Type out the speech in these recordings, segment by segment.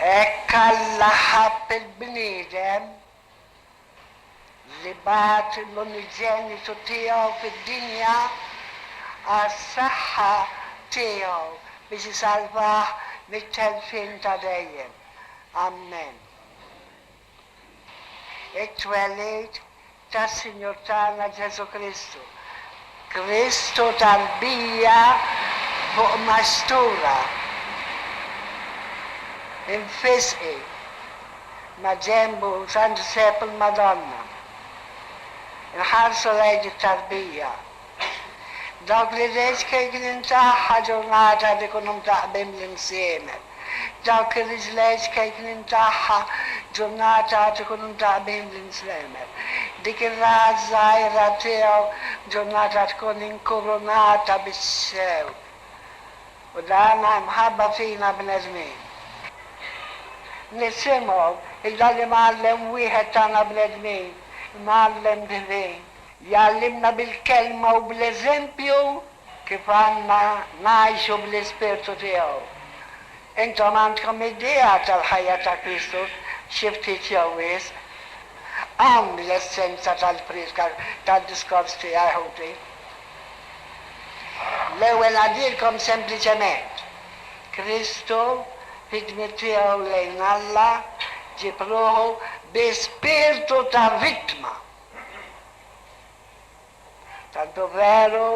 Hekk Alla ħabb il-bniedem li bagħat l-uniġenitu tiegħu fid-dinja għas-saħħa tiegħu biex isalvah mit-telfien ta' dejjem. Ammen. It-twelid tas-Sinjur tagħna Ġesù Kristu. Kristu tarbija fuq mastura. Infisqi. Maġenbu Sant Ġżepp il-Madonna. Inħarsu lejn it-tarbija. Dawk li l-HKG nintah aġġornata li jkunu mdaqqbin bl-imsiemer. Dawk li l-HKG nintagħha ġġurnata għad ikunu mdaqqbin bl-imslemer. Dik ir-raha ż-żgħira tiegħu ġġurnata tkun inkurunata bis-sew. U dan imħabba fina bnedmin. Nisimgħu, illa li mgħallem wieħed tagħna bnedmin, imgħallem divin. Jgħallimna bil-Kelma u bl-eżempju kif għandna ngħixu bl-Ispirtu tiegħu. Intom għandkom idea tal-ħajja ta' Kristu xi ftit jew wisq. Hawn l-essenza tal-prietka tad-diskors tiegħi, ħuti. L-ewwel ngħaddilkom sempliċement, Kristu, fid-dmier tiegħu lejn Alla, ġieb ruħu bi spirtu ta' vittma. Tantu veru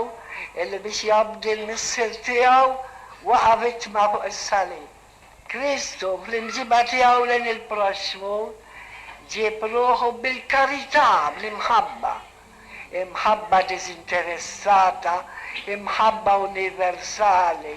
illi biex jobdi l-Missier tiegħu waqa' vittma fuq is-salib. Kristu, fl-imġiba tiegħu lejn il-proxxmu, ġieb ruħu bil-karità, bl-imħabba. Imħabba diżinteressata, imħabba universali.